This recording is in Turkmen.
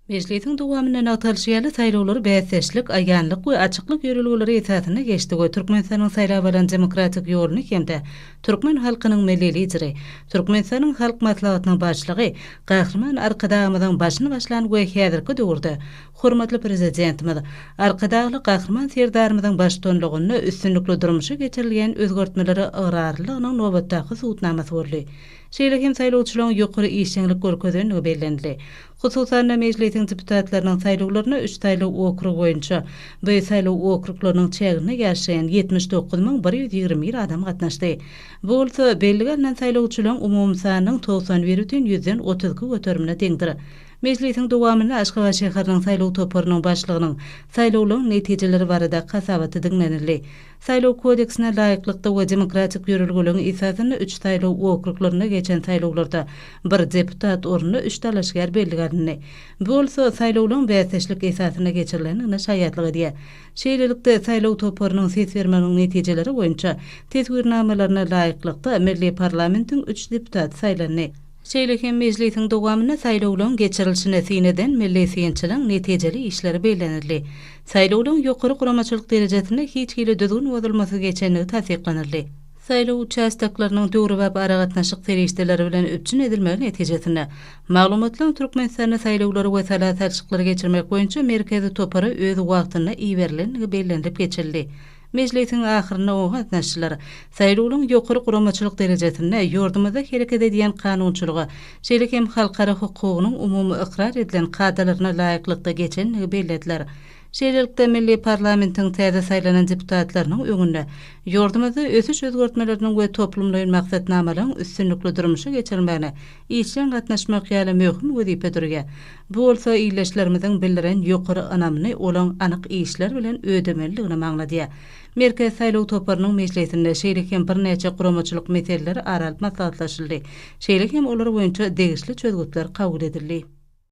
Mejlisiň dowamynda nygtalyşy ýaly, saýlawlar bäsdeşlik, aýanlyk we açyklyk ýörelgeleri esasynda geçdi we Türkmenistanyň saýlap alan demokratik ýoluny hem-de türkmen halkynyň Milli Lideri, Türkmenistanyň Halk Maslahatynyň Başlygy Gahryman Arkadagymyzyň başyny başlan we häzirki döwürde hormatly Prezidentimiz, Arkadagly Gahryman Serdarymyzyň baştutanlygynda üstünlikli durmuşa geçirilýän özgertmelere ygrarlylygynyň nobatdaky subutnamasy boldy. Şeýle hem saýlawçylaryň ýokary işjeňlik görkezendigi bellenildi. Hususan-da, Mejlisiň deputatlarynyň saýlawlaryna üç saýlaw okrugy boýunça we saýlaw okruklarynyň çäginde ýaşaýan ýetmiş dokuz müň bir ýüz ýigrimi bir adam gatnaşdy. Bu bolsa bellige alnan saýlawçylaryň umumy sanynyň togsan bir bütin ýüzden otuz iki göterimine deňdir. Mejlisiň dowamynda Aşgabat şäheriniň saýlaw toparynyň başlygynyň saýlawlaryň netijeleri barada hasabaty diňlenildi. Saýlaw kodeksine laýyklykda we demokratik ýörelgeleriň esasynda üç saýlaw okruglarynda geçen saýlawlarda bir deputat ornuna üç dalaşgär bellige alyndy. Bu bolsa saýlawlaryň bäsdeşlik esasynda geçirilendigine şaýatlyk edýär. Şeýlelikde, saýlaw toparynyň ses bermeginiň netijeleri boýunça teswirnamalaryna laýyklykda, milli parlamentiň üç deputaty saýlandy. Şeýle hem mejlisiň dowamynda saýlawlaryň geçirilişini syn eden milli synçylaryň netijeli işleri bellenildi. Saýlawlaryň ýokary guramaçylyk derejesinde hiç hili düzgün bozulmasyz geçendigi tassyklanyldy. Saýlaw uçastoklarynyň döwrebap aragatnaşyk serişdeleri bilen üpjün edilmegi netijesinde, maglumatlaryň Türkmenistanda saýlawlary we sala salşyklary geçirmek boýunça merkezi topara öz wagtynda iberilendigi bellenilip geçildi. Mejlisiň ahyrynda oňa gatnaşyjylar saýlawlaryň ýokary guramaçylyk derejesinde ýurdumyzda hereket edýän kanunçylyga, şeýle hem halkara hukugynyň umumy ykrar edilen kadalaryna laýyklykda geçenligi bellediler. Şeýlelikde, milli parlamentiň täze saýlanan deputatlarynyň öňünde ýurdumyzda ösüş-özgertmeleriniň we toplumlaýyn maksatnamalaryň üstünlikli durmuşa geçirilmegine işjeň gatnaşmak ýaly möhüm wezipe durýar. Bu bolsa ildeşlerimiziň bildiren ýokary ynamyny olaň anyk işler bilen ödemelidigini maňladýar. Merkezi saýlaw toparynyň mejlisinde şeýle hem birnäçe guramaçylyk meseleleri ara alyp maslahatlaşyldy, şeýle hem olar boýunça degişli çözgütler kabul edildi.